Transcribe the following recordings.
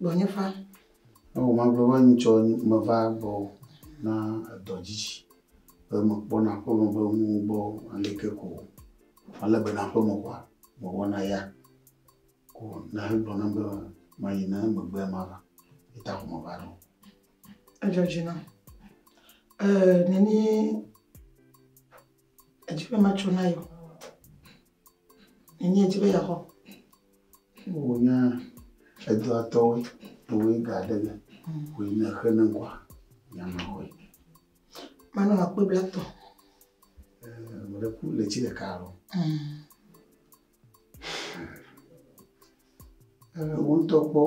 Gbɔnye va. Ewɔ magblɔ be ŋutsɔ meva gbɔ na edɔ dzi be mekpɔna aƒeme be nuwo gbɔ aleke ko ale be na aƒeme koa mewɔna ya ko na hegblɔ nam be mayi ne megbea mava eta ko meva ɖo. Edzɔ dzi nam. Ee, neni Edzi be matso na yewo. Enye edzi be yeaxɔ. Wò nya edɔa tɔwoe, wòe ga aɖe ge, wòe ne exe ne ŋkɔa, nya maxɔe. Manɔ akpe bla tɔ. Mele ku le tsi ɖeka alo. Wo ŋutɔ kpɔ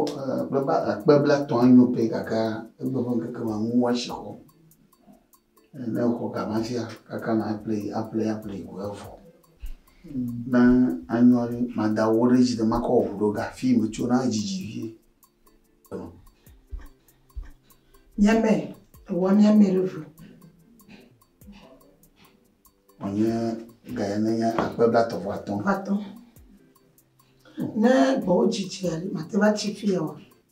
akpe bla tɔ anyo pɛ gake egbe ƒe ŋkeke ma ŋu woasi xɔ. Ne wòxɔ ga ma dzia, kaka na aƒle yi, aƒle yi, aƒle yi ko evɔ. Ne anyɔ ɖe, mada wɔ ɖe edzi ne makɔ wɔ ŋu ɖo ga fi metso na dzidzi vie. Nyɛmɛ, ewa nyɛmɛ ɖe ŋu. Wònye ga ya ne nye akpe blatɔ vɔ atɔ. Atɔ. Ne gbɔwo dzidzi aɖe, mate va tsi fi ya wa.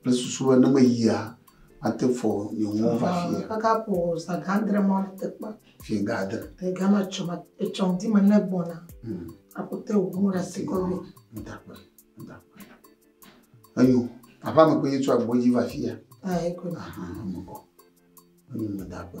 Kple susu be ne meyia, mate fɔ nye ŋu va fia. Kaka ƒo zã gã adre ma le teƒe. Fia gã adre. Ega ma tsɔ ma etsɔ di me ne gbɔna. Hmm. Akote wo mo la se kɔbe. Ndakpe. Ndakpe. Ayo, apa me ko yetsɔ agbo ji va fia. Ah, eko. Ah, mo ko. Ayo me dakpe.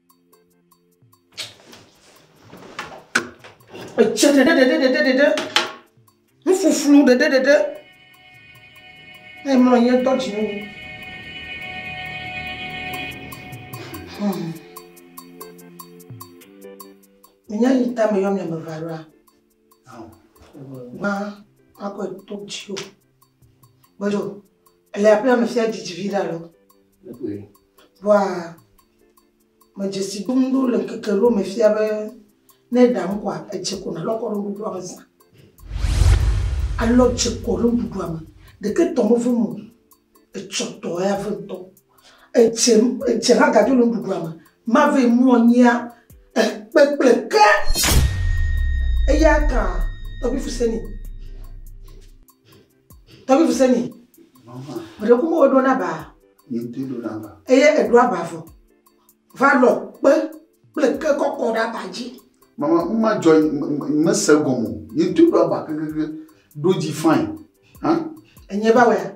Etsɛ ɖeɖeɖeɖeɖeɖe. Nufuflu ɖeɖeɖeɖe. Emlɔ anyi etɔ dzi wu. Hmm. Menya yi ta me yɔ mi ame eve aloa? Gbã, akɔ eto dzi o. Bodo, ele aƒe la me fia didi viɖe alo? Egoe. Vɔa, medze si dom ɖo le ŋkeke ɖewo me fia be ne ɖam koa, edze ko nalɔ kɔ ɖe nuɖuɖua me zã. Alɔ dze kɔ ɖe nuɖuɖua me. Ɖeke tɔ mevem o. Etsɔ tɔ ya vem ŋutɔ. Etsɛ, etsɛ hã gadzo le nuɖuɖua me. Mave mlɔ nyia e kpe kple ke. Eya ta tɔgbui Fuseni, tɔgbui Fuseni, meɖe kuku me ɖo naba. Ŋutɔ ɖo naba. Eye eɖo aba vɔ. Va lɔ kpe kple ke kɔkɔ ɖe aba dzi. Mama, nu ma dzɔ mese gɔme o. Ŋutɔ ɖo aba kekekeɖo dzi fain. Hã? Enye ba wɛa?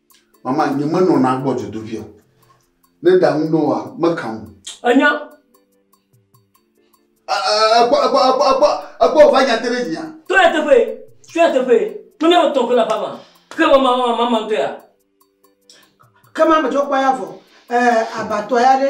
Mama, nye me nɔna gbɔ dzodoƒia. Ne ɖa ŋu nɔ wa, me ka ŋu. Enya. Ekpɔ, ekpɔ, ekpɔ, ekpɔ, ekpɔ, va nya te ɖe dzia. Tɔ ya teƒe, tɔ ya teƒe. Tɔ ne wotɔ kɔ la fama. Ke mama, mama, mama ŋutɔ ya. Ke ma me dzɔ kpɔ ya vɔ. Eh, abatɔ ya ɖe.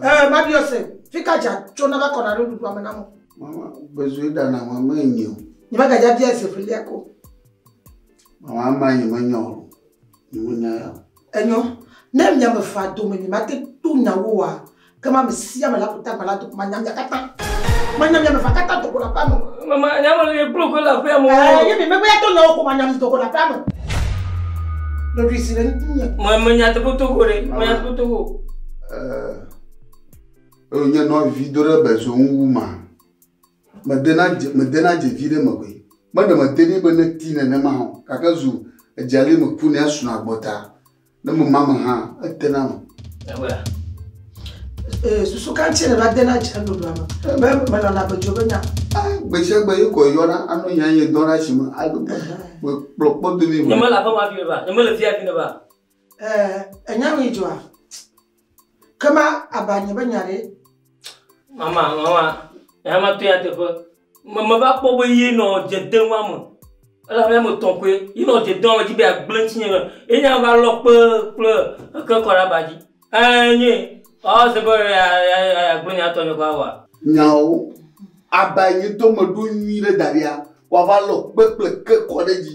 Eh, ma biɔ se, fi ka dza tso na va kɔna ɖe nuɖuɖua me na mo? Mama, bezue ɖa na ma me nyi o. Nye ma gadza bia se filia ko. Mama, ama nye me nyɔ o. Nye me nya ya. Enyɔ, ne mia me fa dome mi ma te to nya wo wa, ke ma me sia me la ko ta gbala doko ma nya mia kata. Ma nya mia me fa kata doko la pa me. Mama, nya me le kplo ko la pa me. Eh, ye mi me ko ya to nya wo ko ma nya mi doko la pa me. Ɖoɖoe si le nye. Ma me nya te ko to ko re. Ma nya te ko to ko. eh, eye nye nɔvi do ɖe bezo ŋu wu ma medena dze medena dze vi ɖe me koe meɖe mete nɛ be neti nenema o gake zu edzali me ku ne asuna gbɔta ne mema me hã etena me. Ewa. Eh, susu kan tsɛ ne va dena dze ɖoɖoa me. Be melɔna bedzo be nya. Ah, gbesiagbe ye kɔ yɔna anɔ nya ye dɔna si me alo kpɔkpɔ domi Nye mele aƒe ma vi me ba. Nye mele via vi ne ba. Ɛɛ, ènya nu yi dzɔa? Ke ma aba nye be nya ɖe? Mama, mama, nya ma tɔe nyateƒe. Me meva kpɔ be ye nɔ dze dem wa me. Ele abe ame tɔ̃ koe. Ye nɔ dze dem wa me dzi be yeagblẽ ŋutinye me. Ye nya va lɔ kpe kple eke kɔ ɖe aba dzi. Ɛɛ, nye. Ewɔ se be yeagblẽ nya tɔ nye kɔ awɔa? Nyawo. Aba yi nye dɔmeɖo nyui ɖe daɖia, woava lɔ kpe kple eke kɔ ɖe edzi.